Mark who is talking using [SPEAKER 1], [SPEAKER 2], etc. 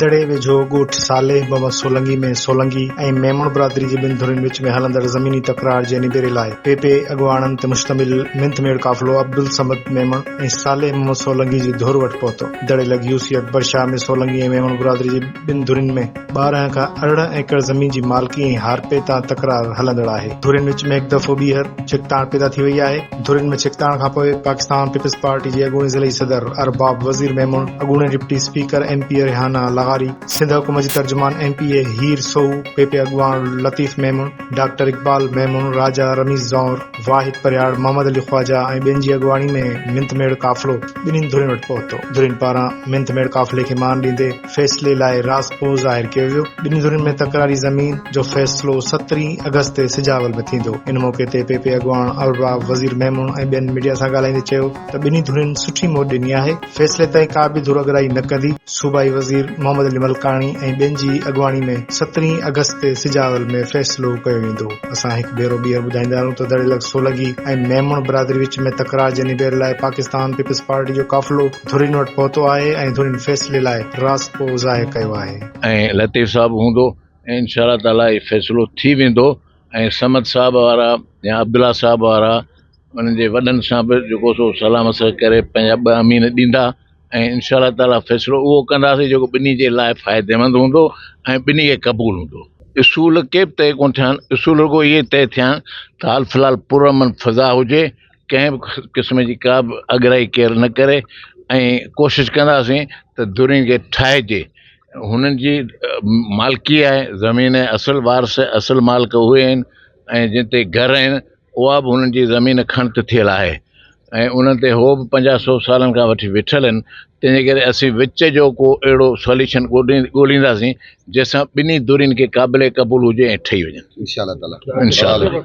[SPEAKER 1] دڙي ويجهو ڳوٺ صالح بابا سولنگي ۾ سولنگي ۽ ميمڻ برادري جي ٻن ڌرين وچ ۾ هلندڙ زميني تڪرار جي نبيري لاء پي پي اڳواڻن تي مشتمل منٿ ميڙ قافلو عبدالصمد ميمڻ ۽ صالح محمد سولنگي جي ڌر وٽ پهتو دڙي لڳ يو سي اڪبر شاهه ۾ سولنگي ۽ ميمڻ برادري جي ٻن ڌرين ۾ ٻارهن کان ارڙهن ايڪڙ زمين جي مالڪي ۽ هارپي تان تڪرار هلندڙ آهي. ڌرين وچ ۾ هڪ دفعو ٻيهر ڇڪتاڻ پيدا ٿي وئي آهي. ڌرين ۾ ڇڪتاڻ کانپوء پاڪستان پيپلز پارٽي جي اڳوڻي ضلعي صدر ارباب وزير ميمڻ، اڳوڻي deputy speaker M P A Rehana لغاري، سنڌ حڪومت جي ترجمان M P A Heer Soho, پ پ اڳواڻ لطيف ميمڻ، ڊاڪٽر اقبال ميمڻ، راجا رميز زئور، واحد پرهياڙ، محمد علي خواجه ۽ ٻين جي اڳواڻي ۾ منٿ ميڙ قافلو ٻنهين ڌرين وٽ پهتو. ڌرين پاران منٿ ميڙ قافلي کي مان ڏيندي، فيصلي لاء راس پوء ظاهر ڪيو ويو. ٻن ڌرين ۾ تڪراري زمين جو فيصلو سترهين آگسٽ تي سجاول ۾ ٿيندو. ان موقعي تي پ پ اڳواڻ الراء وزير ميمڻ ۽ ٻين ميڊيا سان ڳالهائيندي چيو ته ٻنهي ڌرين سٺي موٽ ڏني آهي، فيصلي تائين ڪا به ڌر اڳرائي نه ڪندي. صوبائي وزير محمد علي ملڪاڻي ۽ ٻين جي اڳواڻي ۾ سترهين آگسٽ تي سجاول ۾ فيصلو ڪيو ويندو. اسان هڪ ڀيرو ٻيهر ٻڌائيندا آهيون ته دڙيلڪ سولنگي ۽ ميمڻ برادري وچ ۾ تڪرار جي نبيري لاء پاڪستان پيپلز پارٽي جو قافلو ڌرين وٽ پهتو آهي ۽ ڌرين فيصلي لاء راضپو ظاهر ڪيو آهي. ۽ لطيف صاحب
[SPEAKER 2] هوندو ۽ انشاء الله تعالي هي فيصلو ٿي ويندو ۽ صمد صاحب وارا يا عبدالله صاحب وارا انهن جي وڏن سان به جيڪو سو صلاح مشورو ڪري پنهنجا ٻه امين ڏيندا ۽ انشاء الله تعالي فيصلو اهو ڪنداسين جيڪو ٻنهي جي لاء فائديمند هوندو ۽ ٻنهي کي قبول هوندو. اصول ڪي به طئي ڪونه ٿيا آهن، اصول رڳو اهي طئي ٿيا آهن ته حال في الحال پرامن فضا هجي، ڪنهن به قسم جي ڪا به اڳرائي ڪير نه ڪري ۽ ڪوشش ڪنداسين ته درين کي ٺاهجي هنن جي مالڪي آهي زمين ۽ اصل وارث اصل مالڪ اهي آهن ۽ جن تي گهر آهن اها به هنن جي زمين کڻت ٿيل آهي ۽ انهن تي هو به پنجاهه سو سالن کان وٺي ويٺل آهن تنهنجي ڪري اسين وچ جو ڪو اهڙو سوليشن ڳولي ڳولينداسين جنهن سان ٻنهي درين کي قابل قبول هجي ۽ ٺهي وڃن انشاء الله تعاليٰ انشاء الله